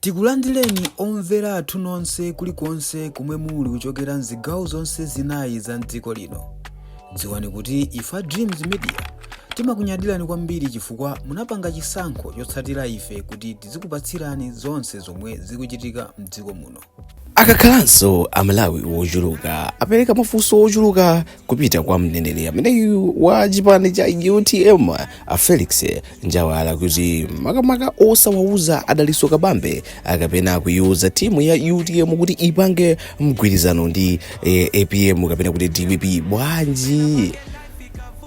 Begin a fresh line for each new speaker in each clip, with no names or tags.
Tikulandireni omvera athu nonse kulikonse komwe muli kuchokera mzigawo zonse zinayi za mdziko lino. Dziwani kuti ife a Dreams Media timakunyadirani kwambiri chifukwa munapanga chisankho chotsatira ife kuti tizikupatsirani zonse zomwe zikuchitika mdziko muno. Akakhalanso
Amalawi ochuluka apereka mafunso ochuluka kupita kwa mneneri ameneyu wa chipani cha utm a felix njawala kuti makamaka osawauza a daliso kabambe kapena kuiuza timu ya utm kuti ipange mgwirizano ndi eh, apm kapena kuti dpp bwanji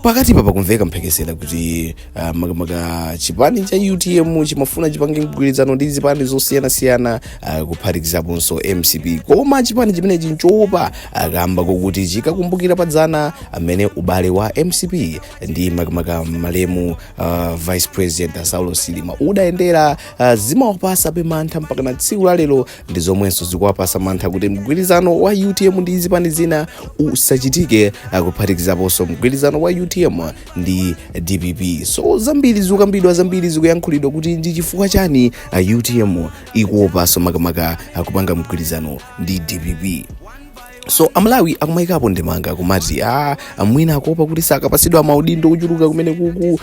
pakatipa pakumveka mphekesera kuti Ah, makamaka chipani cha utm chimafuna chipange mgwirizano ndi zipani zosiyanasiyana ah, kuphatikizaponso mcp koma chipani chimenechi chikuopa kamba kokuti chikakumbukira padzana amene ubale wa mcp ndi makamaka malemu ah, vice president saulos chilima udayendera ah, zimawapasabe mantha mpakana tsiku la lero ndi zomwenso zikuwapasa mantha kuti mgwirizano wa utm ndi zipani zina usachitike ah, kuphatikizaponso mgwirizano wa utm ndi dpp so zambiri zikukambidwa zambiri zikuyankhulidwa kuti ndi chifukwa chani utm ikuopaso makamaka kupanga mgwirizano ndi dpp so amalawi akumayikapo ndemanga kumati a mwina akuopa kuti sakapasidwa maudindo kuchuluka kumeneku ku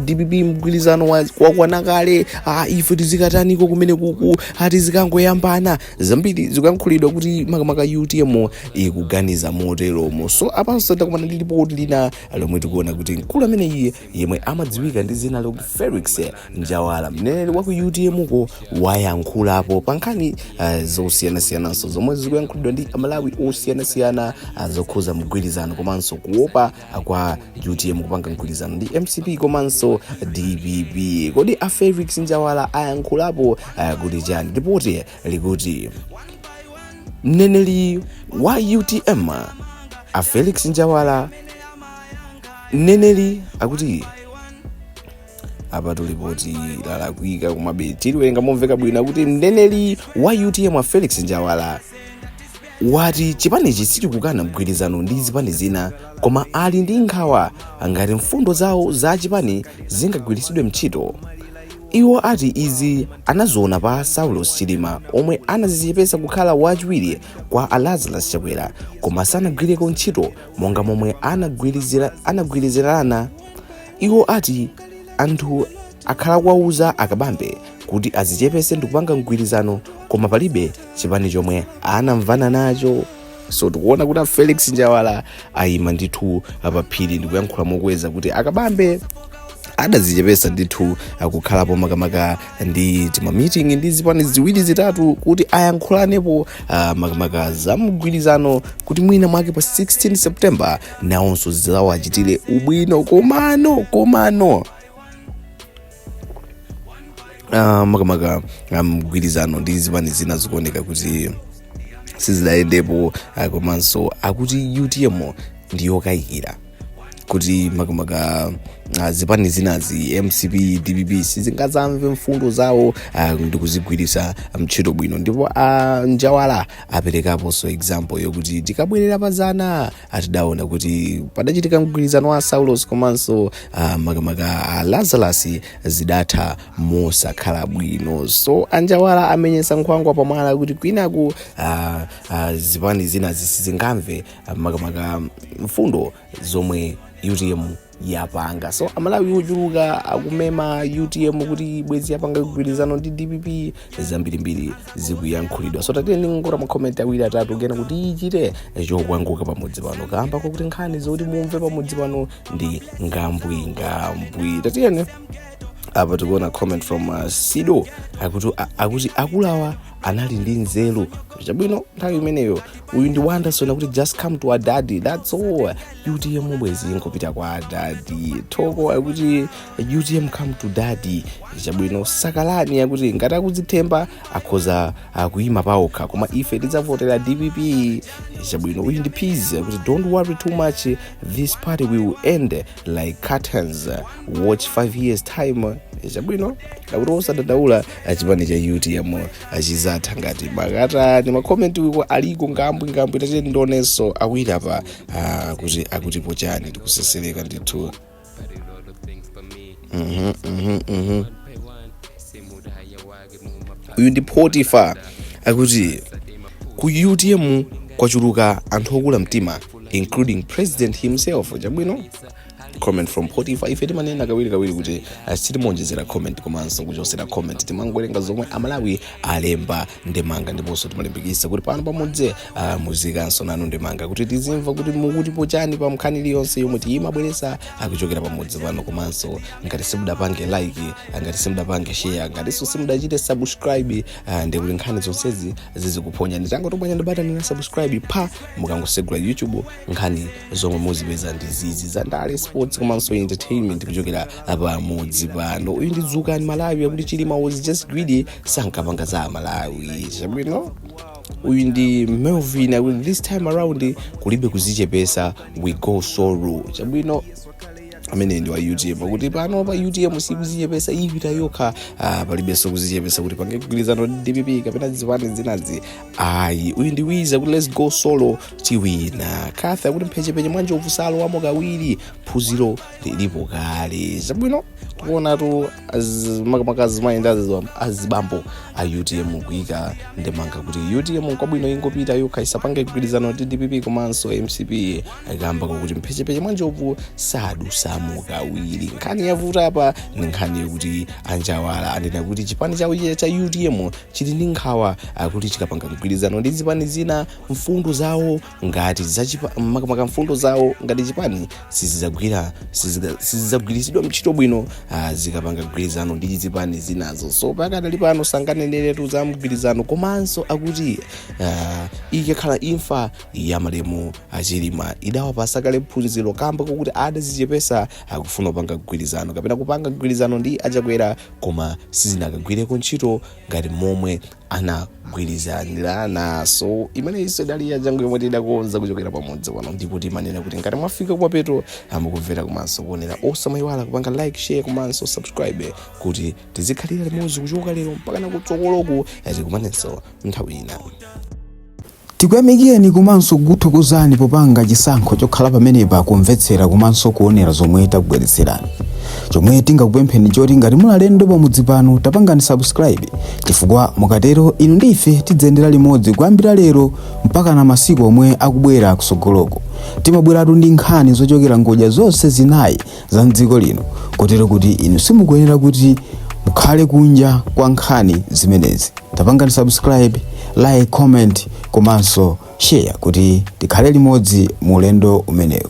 dpp mgwirizano wa- wakwana kale a ife tizikataniko kumeneku a tizikangoyambana zambiri zikuyankhulidwa kuti makamaka utm ikuganiza moteromo so apanso takumana ndi lipoti lina lomwe tikuona kuti mkulu ameneyi yemwe amadziwika ndi dzina lokuti felix njawala mneneri wa ku utmko wayankhulapo pa nkhani eh, zosiyanasiyananso zomwe zikuyankhulidwa ndi amalawi osiyanasiyana ah, zokhuza mgwirizano komanso kuopa ah, kwa utm kupanga mgwirizano ndi mcp komanso dpp kodi a felix njawala ayankhulapo ah, kuti chani lipoti likuti mneneri wa utm a felix njawala mneneri akuti apatu lipoti lalakwika komabe tiliwerenga momveka bwino kuti mneneri wa utm a felix njawala wati chipanichi sichikukana mgwirizano ndi zipani zina koma ali ndi nkhawa ngati mfundo zawo za chipani zingagwiritsidwe mchito Iwo ati izi anaziona pa a Saulos Chilima omwe anazichepesa kukhala wachiwiri kwa a Lazarus Chakwera koma sanagwireko ntchito monga momwe anagwirizira anagwirizirana. Iwo ati anthu akhala akuwauza a Kabambe kuti azichepese ndikupanga mgwirizano koma palibe chipani chomwe anamvana nacho. so tikuona kuti a felix njawala ayima ndithu paphiri ndikuyankhula mokweza kuti akabambe adazichepesa ndithu kukhalapo makamaka ndi tima meeting ndi zipani ziwiri zitatu kuti ayankhulanepo uh, makamaka za mgwirizano kuti mwina mwake pa 16 september nawonso zizawachitire ubwino komano komano Ah, makamaka ah, mgwirizano ndi zipani zina zikuoneka kuti sizidayendepo ah, komanso akuti utm ndiyokayikira kuti makamaka ah, zipani zinazi mcp dpp sizingazamve mfundo zawo ah, ndi kuzigwirisa mtchito bwino ndipo a njawala aperekaponso example yokuti tikabwerera pazana Ah, tidaona kuti padachitika mgwirizano wa saulos komanso ah, makamaka a lazarus zidatha mosakhala bwino so anjawala amenyesa nkhwangwa pamwala kuti kwinaku ah, ah, zipani zinazi sizingamve ah, makamaka mfundo zomwe utm yapanga so amalawi ochuluka akumema utm kuti bwezi yapanga mgwirizano ndi dpp zambirimbiri zikuyankhulidwa so tatiyeni tione makomenti awiri atatu kenaka tichite chokwangula pamudzi pano kamba kwakuti nkhani zoti mumve pamudzi pano ndi ngambwingambwi tatiyeni apa tikuona comment from uh, sido akuti a- akuti akulawa anali ndi nzeru chabwino nthawi imeneyo uyu ndi wanderson akuti just come to our daddy that's all utm bwezi nkupita kwa adadi thoko akuti utm come to dadi chabwino sakalani akuti ngati akudzithemba akhoza kuyima paokha koma ife tidzavotera dpp chabwino uyu ndi peace akuti don't worry too much this party will end like curtains watch 5 years time chabwino akuti osadandaula chipani cha utm chizatha ngati makatani makomenti uko aliko ngambwi ngambwi tatiyeni tionenso awiri apa Ah, kuti akutipo chani tikusesereka ndithu Mhm, mhm, mhm. uyu ndi potifa akuti ku utm kwachuluka anthu okula mtima including president himself chabwino comment from potifa ife timanena kawirikawiri kuti ah, sitimaonjezera comment komanso kuchosera comment timangowerenga zomwe amalawi alemba ndemanga ndiponso timalimbikisa kuti pano pamudzi ah, muziikanso nanu ndemanga kuti tizimva kuti mukutipo chani pa nkhani iliyonse yomwe timabweresa kuchokera pamudzi pano komanso ngati simudapange like ah, ngati simudapange share ngatinso simudachite subscribe ah, ndi kuti nkhani zonsezi zisakuphonyeni tangotobwanyani batani la subscribe apa mukangosegula youtube nkhani zomwe muzipeza ndi zizi za ndale sports komanso entertainment kuchokera pamudzi pano uyu ndi dzukani malawi akuti chilima was just greedy sankapanga za malawi chabwino uyu ndi melvin akuti this time around kulibe kuzichepesa we go solo chabwino amene ndi wa utm akuti pano pa utm sikuzichepesa ipita yokha ah, palibenso kuzichepesa kuti pange kugwirizana ndi dpp kapena zipani zinazi ayi uyu ndi wiza kuti let's go solo tiwina akuti mphechepeche mwa njovu salowamo kawiri phunziro lilipo kale zabwino tikuonatu az- makamaka azimayenda aziwa- azibambo a utm kuyika ndemanga kuti utm kwabwino ingopita yokha isapange mgwirizano ndi dpp komanso mcp akamba kuti mphechepeche mwa njovu sadusamo kawiri nkhani yavuta apa ndi nkhani yokuti anjawala anena kuti chipani chawo cha utm chili ndi nkhawa akuti chikapanga mgwirizano ndi zipani zina mfundo zawo ngati zachipa- makamaka mfundo zawo ngati chipani sizizagwira siziga- sizizagwiritsidwa ntchito bwino ah, zikapanga mgwirizano ndi zipani zinazo so pakadali pano sanganeneretu za mgwirizano komanso akuti ah, ikakhala imfa ya malemu achilima idawapatsa kale phunziro kamba kokuti adazichepesa akufuna kupanga mgwirizano kapena kupanga mgwirizano ndi achakwera koma sizinakagwireko ntchito ngati momwe anagwirizanirana so imeneyinso idali nkhani yathu yomwe tidakonza kuchokera pamudzi pano ndipo timanena kuti ngati mwafika kumapeto mukumvera komanso kuonera osamayiwala kupanga like share komanso subscribe kuti tizikhalira limodzi kuchoka lero mpaka nakutsogoloku tikumanenso nthawi ina
Tikuyamikeni komanso kukuthokozani popanga chisankho chokhala pamenepa kumvetsera komanso kuonera zomwe takubweretserani. Chomwe tingakupempheni nchoti ngati muli alendo pamudzi pano tapangani subscribe chifukwa mukatero inu ndi ife tidziyendera limodzi kuyambira lero mpakana masiku omwe akubwera kutsogoloku. Timabweratu ndi nkhani zochokera ngodya zonse zinayi za mdziko lino kotero kuti inu simukuyenera kuti mukhale kunja kwa nkhani zimenezi tapangani subscribe like comment komanso share kuti tikhale limodzi mu ulendo umenewu